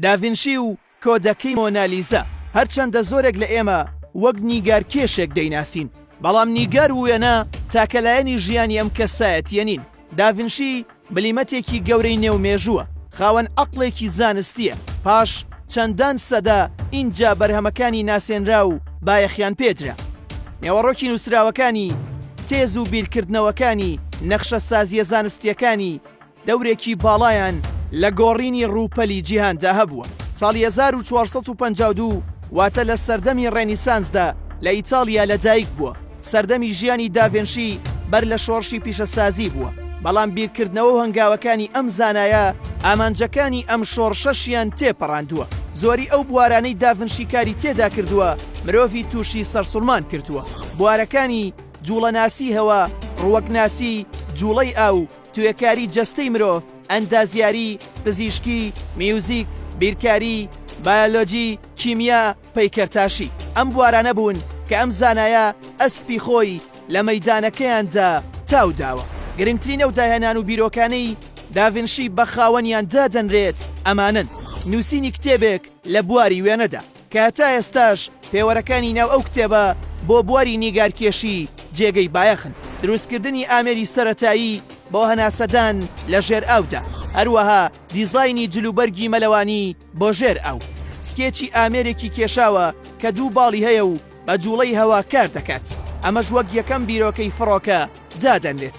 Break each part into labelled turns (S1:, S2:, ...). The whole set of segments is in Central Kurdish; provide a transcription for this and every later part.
S1: داڤینشی و کۆدەکەی مۆنالیزا، هەرچەندە زۆرێک لە ئێمە وەک نیگارکێشێک دەیناسین، بەڵام نیگار و وێنە تاکە لایەنی ژیانی ئەم کەسایەتییە نین. داڤینشی بلیمەتێکی گەورەی نێو مێژووە، خاوەن عەقڵێکی زانستییە، پاش چەندان سەدە ئینجا بەرهەمەکانی ناسێنرا و بایەخیان پێ درا. نێوەڕۆکی نووسراوەکانی، تێز و بیرکردنەوەکانی، نەخشەسازییە زانستییەکانی، دەورێکی باڵایان لە گۆڕینی ڕووپەلی جیهاندا هەبووە. ساڵی هەزار و چوار سەد و پەنجا و دوو واتە لە سەردەمی ڕێنیسانسدا لە ئیتاڵیا لەدایک بووە. سەردەمی ژیانی داڤێنشی بەر لە شۆڕشی پیشەسازی بووە، بەڵام بیرکردنەوە و هەنگاوەکانی ئەم زانایە ئامانجەکانی ئەم شۆڕشەشیان تێپەڕاندووە. زۆری ئەو بوارانەی داڤنشی کاری تێدا کردووە مرۆڤی تووشی سەرسوڕمان کردووە. بوارەکانی، جووڵەناسی هەوا، ڕووەکناسی، جووڵەی ئاو، توێکاری جەستەی مرۆڤ، ئەندازیاری، پزیشکی، میوزیک، بیرکاری، بایۆلۆجی، کیمیا، پەیکەرتاشی ئەم بوارانە بوون کە ئەم زانایە ئەسپی خۆی لە مەیدانەکەیاندا تاو داوە. گرنگترین ئەو داهێنان و بیرۆکانەی داڤنشی بە خاوەنیان دادەنرێت ئەمانەن، نووسینی کتێبێک لە بواری وێنەدا، کە تا ئێستاش پێوەرەکانی ناو ئەو کتێبە بۆ بواری نیگارکێشی جێگەی بایەخن، دروستکردنی ئامێری سەرەتایی بۆ هەناسەدان لە ژێرئاودا، هەروەها دیزاینی جلوبەرگی مەلەوانی بۆ ژێرئاو، سکێچی ئامێرێکی کێشاوە کە دوو باڵی هەیە و، بە جوڵەی هەوا کار دەکات، ئەمەش وەک یەکەم بیرۆکەی فڕۆکە دادەنرێت.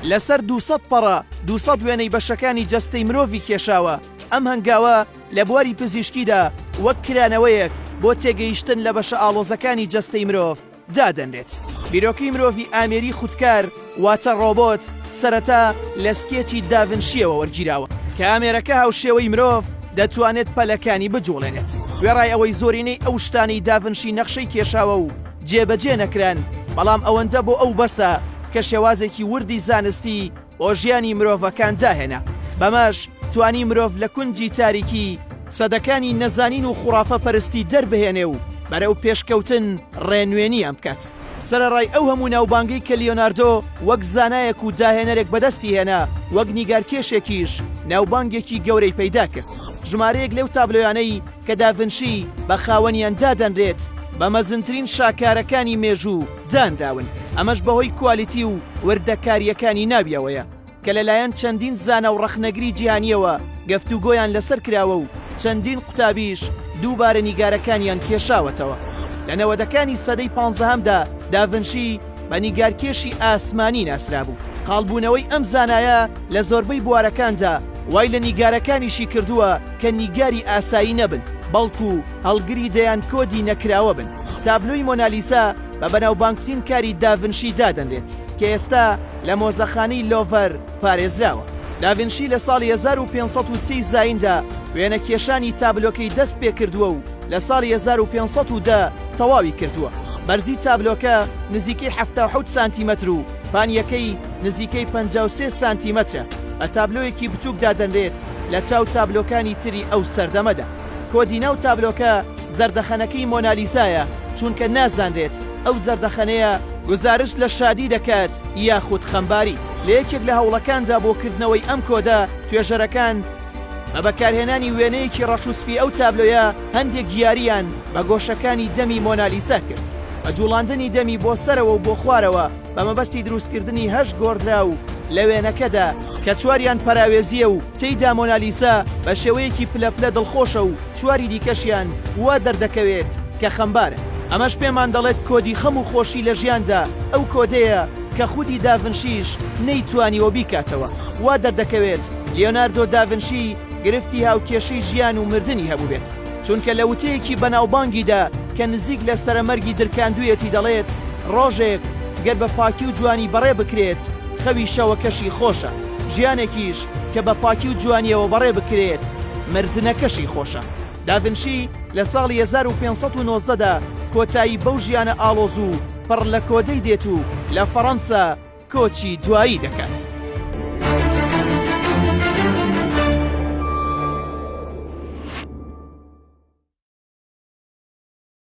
S1: لەسەر دوو سەد پەڕە دوو سەد وێنەی بەشەکانی جەستەی مرۆڤی کێشاوە، ئەم هەنگاوە لە بواری پزیشکیدا وەک کرانەوەیەک بۆ تێگەیشتن لە بەشە ئاڵۆزەکانی جەستەی مرۆڤ دادەنرێت. بیرۆکەی مرۆڤی ئامێری خودکار، واتە ڕۆبۆت سەرەتا لە سکێچی داڤنشییەوە وەرگیراوە کە ئامێرەکە هاوشێوەی مرۆڤ دەتوانێت پەلەکانی بجوڵێنێت، وێڕای ئەوەی زۆرینەی ئەو شتانەی داڤنشی نەخشەی کێشاوە و جێبەجێ نەکران، بەڵام ئەوەندە بۆ ئەو بەسە کە شێوازێکی وردی زانستی بۆ ژیانی مرۆڤەکان داهێنا، بەمەش توانی مرۆڤ لە کونجی تاریکی سەدەکانی نەزانین و خوڕافە پەرستی دەربهێنێ و بەرەو پێشکەوتن ڕێنوێنییان بکات. سەرەڕای ئەو هەموو ناوبانگەی کە لیۆناردۆ وەک زانایەک و داهێنەرێک بەدەستی هێنا، وەک نیگارکێشێکیش ناوبانگێکی گەورەی پەیدا کرد. ژمارەیەک لەو تابلۆیانەی کە داڤنشی بە خاوەنیان دادەنرێت، بە مەزنترین شاکارەکانی مێژوو دانراون، ئەمەش بەهۆی کوالیتی و وردەکارییەکانی ناویەوەیە. کە لەلایەن چەندین زانا و ڕەخنەگری جیهانییەوە گفتوگۆیان لەسەر کراوە و چەندین قوتابییش دووبارە نیگارەکانیان کێشاوەتەوە. لە نەوەدەکانی سەدەی پانزەهەمدا داڤنشی بە نیگارکێشی ئاسمانی ناسرابوو. قاڵبوونەوەی ئەم زانایە لە زۆربەی بوارەکاندا وای لە نیگارەکانیشی کردووە کە نیگاری ئاسایی نەبن، بەڵکو هەڵگری دەیان کۆدی نەکراوە بن. تابلۆی مۆنالیزا بە بەناوبانگترین کاری داڤنشی دادەنرێت کە ئێستا، لە مۆزەخانەی لۆڤەر پارێزراوە. داڤنشی لە ساڵی هەزار و پێنج سەد و سی زایندا وێنەکێشانی تابلۆکەی دەست پێکردووە و لە ساڵی هەزار و پێنج سەد و دە تەواوی کردووە. بەرزی تابلۆکە نزیکەی حەفتا و حەوت سانتیمەتر و پانییەکەی نزیکەی پەنجا و سێ سانتیمەترە. بە تابلۆیەکی بچووک دادەنرێت لە چاو تابلۆکانی تری ئەو سەردەمەدا. کۆدی ناو تابلۆکە زەردەخەنەکەی مۆنالیزایە چونکە نازانرێت ئەو زەردەخەنەیە گوزارشت لە شادی دەکات یاخود خەمباری. لە یەکێک لە هەوڵەکاندا بۆ کردنەوەی ئەم کۆدە، توێژەرەکان بە بەکارهێنانی وێنەیەکی ڕەش و سپی ئەو تابلۆیە، هەندێک یارییان بە گۆشەکانی دەمی مۆنالیزا کرد، بە جووڵاندنی دەمی بۆ سەرەوە و بۆ خوارەوە، بە مەبەستی دروستکردنی هەشت گۆڕدراو لە وێنەکەدا، کە چواریان پەراوێزییە و تێیدا مۆنالیزا بە شێوەیەکی پلە پلە دڵخۆشە و چواری دیکەشیان وا دەردەکەوێت کە خەمبارن. ئەمەش پێمان دەڵێت کۆدی خەم و خۆشی لە ژیاندا ئەو کۆدەیە کە خودی داڤنشیش نەیتوانیوە بیکاتەوە. وا دەردەکەوێت لیۆناردۆ داڤنشی گرفتی هاوکێشەی ژیان و مردنی هەبووبێت. چونکە لە وتەیەکی بەناوبانگیدا کە نزیک لە سەرەمەرگی درکاندوویەتی دەڵێت، ڕۆژێک گەر بە پاکی و جوانی بەڕێ بکرێت، خەوی شەوەکەشی خۆشە، ژیانێکیش کە بە پاکی و جوانییەوە بەڕێ بکرێت، مردنەکەشی خۆشە. داڤنشی لە ساڵی هەزار و پێنج سەد و نۆزدە دا کۆتایی بەو ژیانە ئاڵۆز و پڕ لە کۆدەی دێت و لە فەڕەنسا، کۆچی دوایی دەکات.